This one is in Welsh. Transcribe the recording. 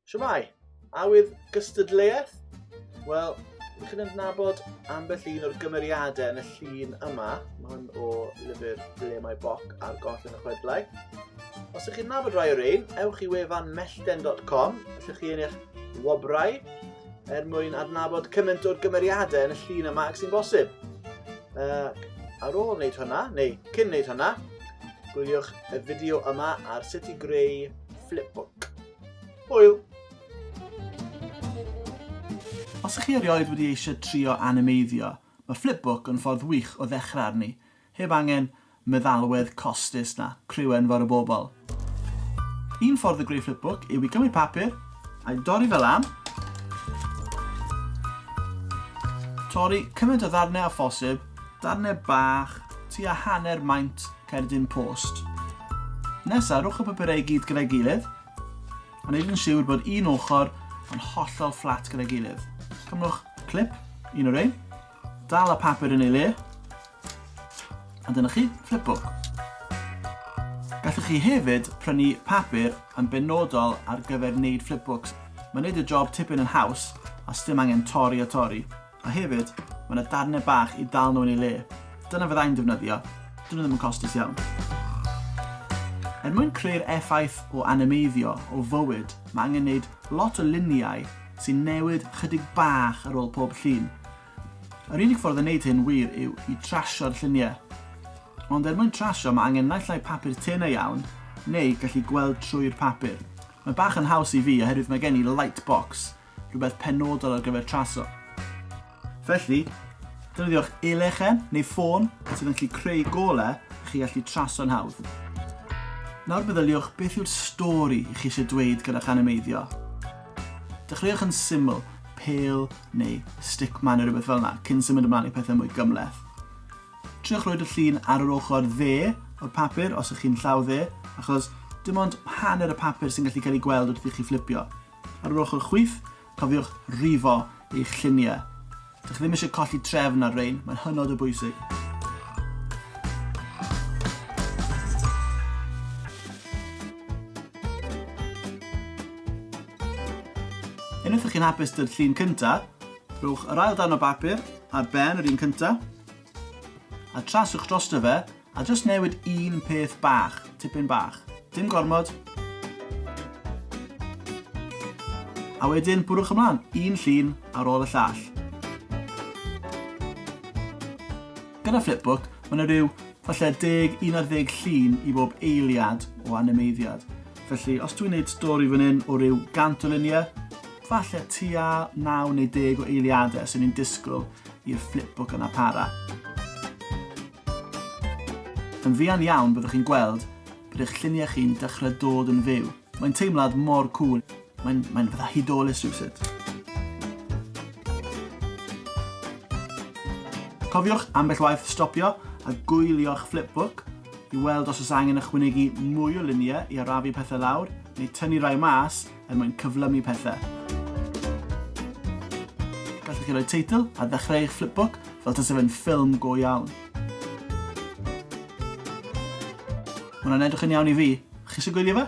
Siwmai! Awydd gystadleuaeth? Wel, ydych chi'n adnabod ambell un o'r gymeriadau yn y llun yma? Mae hwn o lyfr Ble mae Boc ar goll yn y chwedlau. Os ydych chi'n nabod rai o'r ein, ewch i wefan mellten.com, ydych chi yn eich wobrau, er mwyn adnabod cymaint o'r gymeriadau yn y llun yma ac sy'n bosib. Uh, ar ôl wneud hwnna, neu cyn wneud hwnna, gwyliwch y fideo yma ar sut i greu Flipbook. Hwyl! Os ych chi erioed wedi eisiau trio animeiddio, mae Flipbook yn ffordd wych o ddechrau arni, heb angen meddalwedd costus na criw enfawr o bobl. Un ffordd o greu Flipbook yw i gymryd papur, a'i dorri fe lan, torri cymaint o ddarnau â phosib, darnau bach, tua hanner maint, Cerdyn Post. Nesa, rhowch y papurau i gyd gyda'i gilydd, a wneud yn siwr bod un ochr yn hollol fflat gyda'i gilydd. Cymrwch clip, un o'r ein, dal y papur yn ei le, a dyna chi, flipbook. Gallwch chi hefyd prynu papur yn benodol ar gyfer wneud flipbooks. Mae'n wneud y job tipyn yn haws a sdim angen torri a torri. A hefyd, mae yna darnau bach i dal nhw yn eu le. Dyna fydda i'n defnyddio, dyn nhw ddim yn costus iawn. Er mwyn creu'r effaith o animeiddio o fywyd, mae angen gwneud lot o luniau sy'n newid chydig bach ar ôl pob llun. Yr unig ffordd o wneud hyn wir yw i trasio'r lluniau. Ond er mwyn trasio mae angen naill ai papur tenau iawn neu gallu gweld trwy'r papur. Mae bach yn haws i fi oherwydd mae gen i light box rhywbeth penodol ar gyfer traso. Felly, defnyddiwch e-lechen neu ffôn sydd yn gallu creu golau i chi allu traso'n hawdd. Nawr meddyliwch beth yw'r stori i chi eisiau dweud gyda'ch animeiddio. Dechreuwch yn syml, pel neu stickman neu rhywbeth fel yna, cyn symud ymlaen i pethau mwy gymleth. Triwch roed y llun ar yr ochr dde o'r papur os ych chi'n llaw dde, achos dim ond hanner y papur sy'n gallu cael ei gweld wrth i chi fflipio. Ar yr ochr chwith, cofiwch rifo eich lluniau. Dych chi ddim eisiau colli trefn ar rein, mae'n hynod o bwysig. Unwaith ydych chi'n hapus dy'r llun cyntaf, rhowch yr ail dan o bapur ar ben yr un cyntaf a traswch drosto fe A jyst newid un peth bach, tipyn bach. Dim gormod. A wedyn bwrwch ymlaen, un llun ar ôl y llall. Gyda Flipbook, mae yna rhyw falle 10, 11 llun i bob eiliad o animeiddiad. Felly, os dwi'n gwneud stori fan hyn o ryw 100 o luniau, falle tua 9 neu 10 o eiliadau sy'n ni'n disgwyl i'r flipbook yna para. Yn fuan iawn byddwch chi'n gweld bod eich lluniau chi'n dechrau dod yn fyw. Mae'n teimlad mor cŵl. Mae'n, mae'n fatha hudolus rhywsut. Cofiwch ambell waith stopio a gwylio'ch flipbook i weld os oes angen ychwanegu mwy o luniau i arafu pethau lawr neu tynnu rai mas er mwyn cyflymu pethau. Gallwch chi roi teitl a ddechrau eich flipbook fel tase fe'n ffilm go iawn. Mae hwnna'n edrych yn iawn i fi. Chi eisiau gwylio fe?